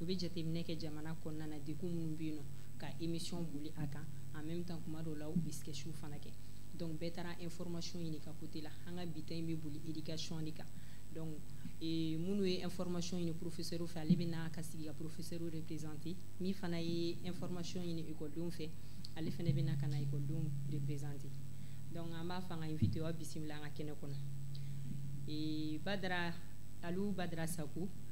u bɛ jateminɛ kɛ jamana kɔnɔna na degun minnu bɛ yen nɔ ka émission boli a kan en même temps kuma dɔw la u bɛ sketch fana kɛ donc bɛɛ taara information ɲini ka côté la an ka bi ta in bɛ boli éducation de kan donc ee, minnu ye information ɲini professeur fɛ ale bɛ na ka sigi ka professeur représenter min fana ye information ɲini ekɔlidenw fɛ ale fana bɛ na ka na ekɔlidenw représenter donc an b'a fɔ an ka invitéw aw bisimila an ka kɛnɛ kɔnɔ ee, badara aliou badara saku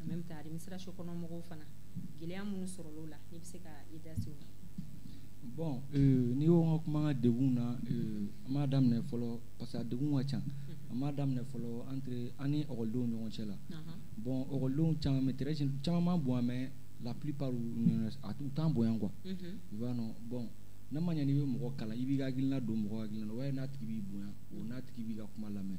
en même temps administration kɔnɔ mɔgɔw fana gɛlɛya minnu sɔrɔl'o la n'i bɛ se ka i da se o ma bon euh, n'i ko an ka kuma an ka degun na euh, an b'a daminɛ fɔlɔ parce que a degun ka ca an b'a daminɛ fɔlɔ entre an ni ekɔlidenw ɲɔgɔn cɛ la bon ekɔlidenw caman bɛ très jeune caman b'an bonya mais la plupart u t'an bonya quoi i b'a dɔn bon n'a ma ɲɛ n'i bɛ mɔgɔ kalan i b'i ka hakilina don mɔgɔ hakilina na o b'a ye n'a tigi b'i bonya o n'a tigi b'i ka kuma lamɛn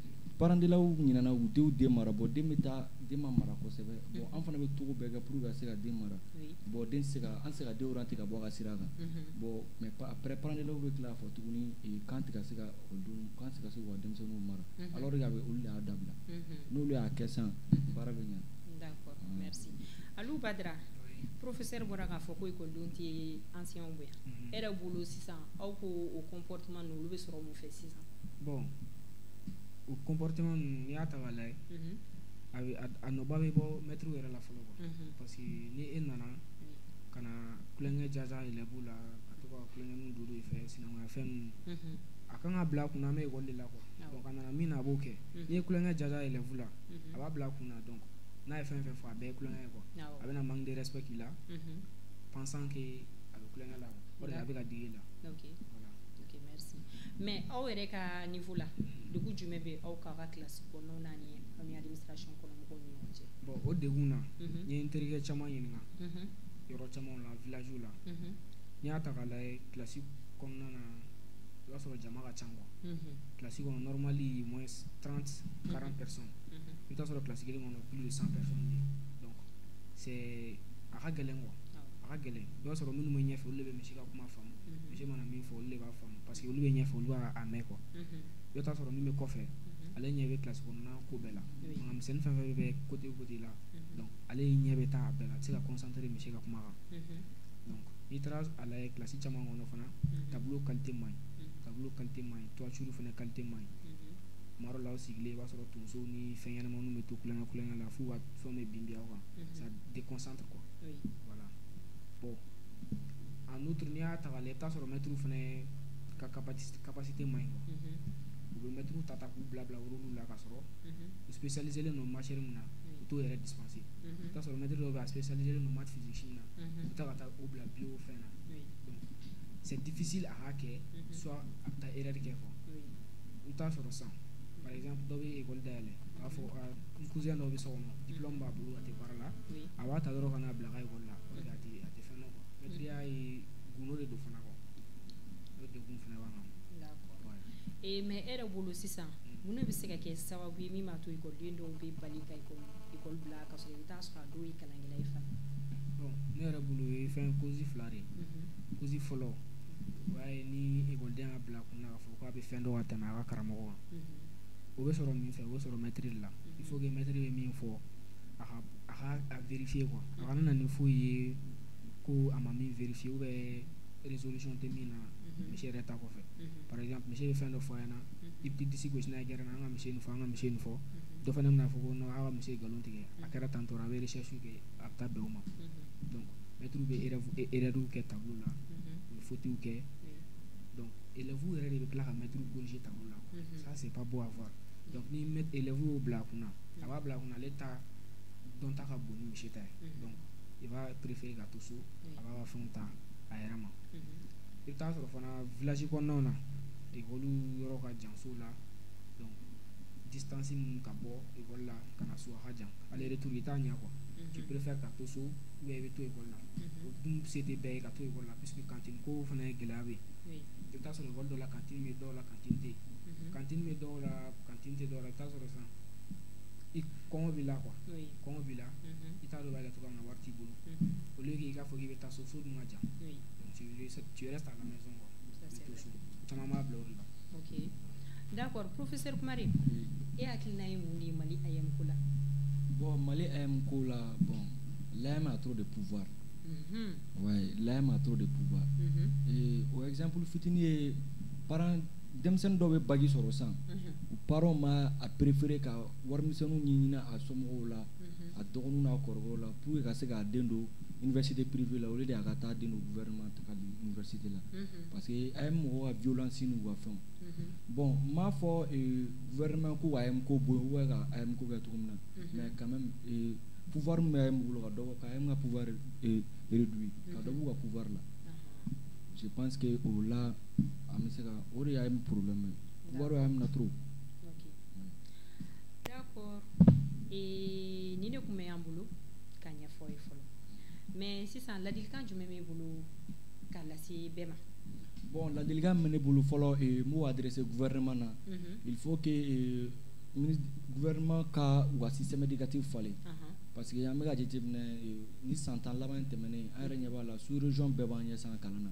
parents d'élèves ɲinana u denw den mara bon den bɛ taa den ma mara kosɛbɛ bon an fana bɛ cogo bɛɛ kɛ pour ka se ka den mara bon den se ka an se ka den orienter ka bɔ a ka sira kan bon mais après parents d'élèves bɛ tila k'a fɔ tuguni k'an tɛ ka se ka o dun k'an tɛ ka se k'u ka denmisɛnninw mara alors que a bɛ olu de y'a dabila n'olu y'a kɛ sa baara bɛ ɲa d'accord merci Aliou Badara professeur bɔra k'a fɔ ko ekɔlidenw tɛ anciens bonya e yɛrɛ bolo sisan aw ko o comportement ninnu olu bɛ sɔrɔ mun fɛ sisan bɔn o kɔnptema ninnu y'a ta la ye a a nɔba bɛ bɔ mɛtiriw yɛrɛ la fɔlɔ kuwa parce que ni e nana ka na kukɛ jaza yɛrɛ b'u la ka to ka kukɛunu duuru de fɛ sinankunya fɛn ninnu a kan ka bila kun an bɛ wale la kuwa ka nana min na a b'o kɛ n ye kukɛ jaza yɛrɛ fu la a b'a bila kun dɔn kɔ n'a ye fɛn fɛ fɔ a bɛɛ kukɛ ye kuwa a bɛna na manden sɛbɛn k'i la pansanke a bɛ kukɛ la a bɛ ka digi la mais aw yɛrɛ ka niveau la degun jumɛn bɛ aw kan kilasi kɔnɔnaw na ani aw ni administration kɔnɔ mɔgɔw ni ɲɔgɔn cɛ bon o degun na n ye n terikɛ caman ɲininka yɔrɔ camanw la villagew la n'i y'a ta k'a lajɛ kilasi kɔnɔna na i b'a sɔrɔ jama ka ca quoi kilasi kɔnɔ normal ye moins 30 40 personnes i bɛ t'a sɔrɔ kilasi kelen kɔnɔ plus de 100 personnes bɛ yen donc c'est a ka gɛlɛn quoi a ka gɛlɛn i b'a sɔrɔ minnu bɛ ɲɛfɛ olu de bɛ monsieur ka kuma faamu monsieur mana min fɔ olu de b'a faamu parce que olu bɛ ɲɛfɛ olu b'a mɛn quoi i bɛ t'a sɔrɔ min bɛ kɔfɛ ale ɲɛ bɛ kilasi kɔnɔna ko bɛɛ la manamisɛnnin fɛn fɛn bɛ côté côté la donc ale ɲɛ bɛ taa a bɛɛ la a tɛ se ka concentrer monsieur ka kuma kan donc n'i taara a lajɛ kilasi caman kɔnɔ fana tableau qualité man ɲi tableau qualité man ɲi toiture fana qualité man ɲi tuma dɔ la aw sigilen i b'a sɔrɔ tonsow ni fɛn ɲɛnamaninw bɛ to tulonkɛ tulonkɛ la f'u ka fɛnw bɛ bin bin aw kan ça déconcentre quoi voilà bon en outre n'i y'a ta la i t'a sɔrɔ mɛtiriw fana ka capacité man ɲi u bɛ mɛtiriw ta k'u bila bila yɔrɔ la ka sɔrɔ u spécialisélen don matière min na u t'o yɛrɛ dispenser i t'a sɔrɔ mɛtiri dɔw spécialisélen don math physique na u taa ka taa u bila bio fɛn na c'est difficile a y'a kɛ s a bɛ taa erreur kɛ quoi u t'a sɔrɔ san dɔw bɛ ekɔli dayɛlɛ b'a fɔ cousin dɔw bɛ so kɔnɔ diplôme b'a bolo a tɛ baara la a b'a ta yɔrɔ k'a bila a ka ekɔli la a tɛ fɛn dɔn quoi mɛtiriya ye gundo de don fana quoi o degun fana b'an kan ee mais e yɛrɛ bolo sisan mun de bɛ se ka kɛ sababu ye min b'a to ekɔliden dɔw bɛ bali ka ekɔli ekɔli bila ka sɔrɔ i bɛ taa sɔrɔ a dɔw ye kalankɛla ye fana bon ne yɛrɛ bolo o ye fɛn cause fila de ye cause fɔlɔ o y'a ye ni ekɔliden y'a bila kun na k'a fɔ k'a bɛ fɛn dɔn ka tɛmɛ a ka karamɔgɔ kan o bɛ sɔrɔ min fɛ o bɛ sɔrɔ mɛtiri de la il faut que mɛtiri bɛ min fɔ a ka a ka a vérifier quoi a kana na ni foyi ye ko a ma min vérifier ou bien résolution tɛ min na mhm. monsieur yɛrɛ taa kɔfɛ mhm. par exemple monsieur ye fɛn dɔ fɔ a ɲɛna mhm. i bɛ disi gosi n'a ye gɛrɛn na an ka monsieur nin fɔ an ka monsieur nin fɔ dɔ fana bɛna fɔ ko non aw ka monsieur ye nkalon tigɛ a kɛra tan tɔɔrɔ a bɛ recherche kɛ a bɛ taa bɛn o ma donc mɛtiriw bɛ erreur kɛ tableau la u bɛ fautes kɛ donc élèves yɛrɛ de bɛ tila ka mɛtiriw corriger tableau la ça c'est pas beau à voir donc ni élèves y'o bila a kunna a b'a bila kun ale ta dɔnta ka bon ni monsieur ta ye mm-hmm. donc i b'a préférer ka to so a b'a ka fɛnw ta a yɛrɛ ma mm-hmm. i bɛ taa sɔrɔ fana village kɔnɔnaw na ekɔli yɔrɔ ka jan sow la donc distance min ka bɔ ekɔli la ka na so a ka jan aller retour i t'a ɲɛ quoi mm-hmm. tu préfères ka to so ou bien i bɛ to ekɔli la o dun se tɛ bɛɛ ye ka to ekɔli la puisque cantine ko fana ye gɛlɛya bɛ yen i bɛ taa sɔrɔ ekɔli dɔ la cantine bɛ dɔw la cantine tɛ yen cantine bɛ dɔw la cantine tɛ dɔw la i bɛ taa sɔrɔ sisan i kɔngɔ b'i la quoi kɔngɔ b'i la mm-hmm. i t'a dɔn b'a kɛ cogoya min na wari t'i bolo mm-hmm. au lieu k'i k'a fɔ k'i bɛ taa so so dun ka jan donc tu tu restes à la maison quoi i to so caman b'a bila o de la ok d'accord professeur Kumare e hakilina ye mun de ye Mali AEEM ko la bon Mali AEEM ko la bon l'AEEM a trop de pouvoir mm-hmm. ouais l'AEEM a trop de pouvoir et o exemple fitini ye parent denmisɛnnin dɔw bɛ bac sɔrɔ san u parents b'a préférer ka warimisɛnninw ɲini a somɔgɔw la a dɔgɔninw n'a kɔrɔkɛw la pour que ka se k'a den don université privée la au lieu de a ka taa den don gouvernement ta ka don université la parce que AEEM mɔgɔw ka violence n'u ka fɛnw bon n m'a fɔ gouvernement ko ka AEEM ko bɔ yen ou ka AEEM ko kɛ cogo min na mais quand même pouvoir min bɛ AEEM bolo ka dɔ bɔ ka AEEM ka pouvoir réduire ka dɔ b'u ka pouvoir la je pense que o la an bɛ se ka o de y'AEEM problème ye pouvoir bɛ AEEM na trop d'accord ee nin de tun bɛ an bolo k'a ɲɛfɔ ye fɔlɔ mais sisan ladilikan jumɛn b'e bolo k'a lase bɛɛ ma bon ladilikan min bɛ ne bolo fɔlɔ eh, m'o adressé gouvernement na mm -hmm. il faut que eh, gouvernement ka u ka système éducatif falen uh -huh. parce que an bɛ k'a jateminɛ eh, nin san tan laban in tɛmɛnen an yɛrɛ ɲɛ b'a la sous région bɛɛ b'an ɲɛ sa kalan na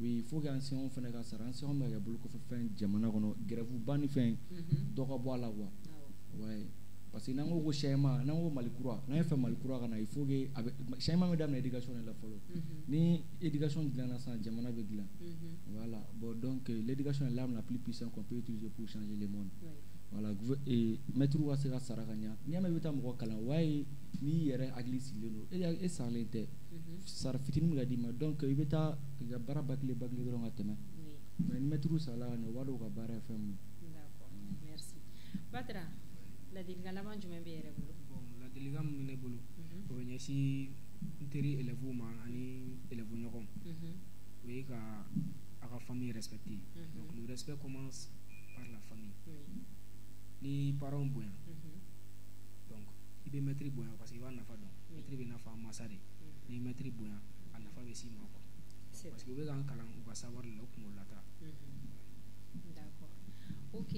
oui faut que enseignants fana ka sara enseignants bɛ ka kɛ bolokɔfɛ fɛn jamana kɔnɔ grève ba ni fɛn mhm. dɔ ka bɔ a la quoi ouais parce que n'an ko ko changement n'an ko mali kura n'an y'a fɛ mali kura ka na il faut que a bɛ changement bɛ daminɛ éducation de la fɔlɔ mhm. ni éducation dilanna sisan jamana bɛ dilan mhm. voilà bon donc euh, l'éducation est l'arme la plus puissante qu'on peut utiliser pour changer le monde ouais. voilà et maître ka se ka sara ka ɲa n'i y'a mɛn i bɛ taa mɔgɔ kalan o b'a ye n'i yɛrɛ hakili sigilen don e saralen tɛ mhm. sara fitinin bɛ ka d'i ma donc i bɛ taa i ka baara bâcler bâcler dɔrɔn ka tɛmɛ mais ni mɛtiriw sarala ka ɲɛ u b'a dɔn u ka baara ye fɛn min ye d'accord merci Batra ladilikan laban jumɛn b'e yɛrɛ bolo bon ladilikan min bɛ ne bolo mhm. o bɛ ɲɛsin n teri élèves ma ani élèves ɲɔgɔnw mhm. o ye ka a ka famille respecter donc le respect commence par la famille n'i parents bonya donc i bɛ mɛtiri bonya parce que i b'a nafa dɔn mɛtiri bɛ nafa masa de n'i ye mɛtiri bonya a nafa bɛ s'i ma quoi parce que u bɛ k'an kalan u ka savoir de la u kunkolo la ta d'accord ok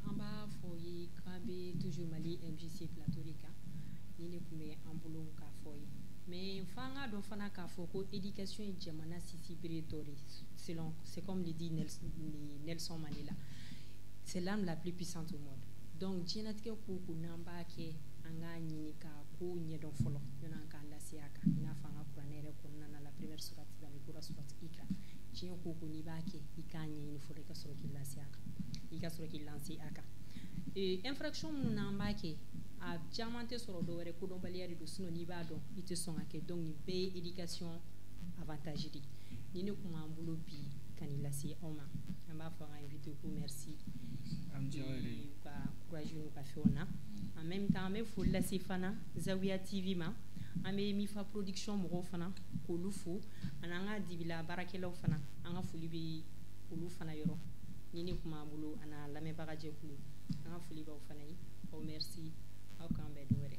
an b'a fɔ ye k'an bɛ toujours Mali MJC plateau de kan nin de tun bɛ an bolo k'a fɔ ye mais f'an k'a dɔn fana k'a fɔ ko éducation ye jamana sinsinbere dɔ de selon c'est comme le dit Nelson Mandela c'est l'arme la plus puissante au monde donc diɲɛnatigɛ ko o ko n'an b'a kɛ an k'a ɲini ka ko ɲɛdɔn fɔlɔ yann'an k'an lancer a kan i n'a fɔ an ka kuranɛ yɛrɛ kɔnɔna na la première sourate la Iqra sourate Iqra diɲɛ ko o ko n'i b'a kɛ i k'a ɲɛɲini fɔlɔ i ka sɔrɔ k'i lase a kan i ka sɔrɔ k'i lancer a kan ee infraction minnu n'an b'a kɛ a caman tɛ sɔrɔ dɔwɛrɛ kodɔnbaliya de don sinon n'i b'a dɔn i tɛ sɔn k'a kɛ donc nin bɛɛ ye éducation avantage de nin de tun b'an bolo bi ka nin lase aw ma an b'a fɔ an ka invité ko merci u ka courage n'u ka fɛnw na en même temps an bɛ foli lase fana Zawiya TV ma an bɛ Mifa production mɔgɔw fana k'olu fo ani an ka dibila baarakɛlaw fana an ka foli bɛ olu fana yɔrɔ nin de tun b'an bolo ani a lamɛnbaga jɛkulu an ka foli b'aw fana ye aw merci aw k'an bɛn don wɛrɛ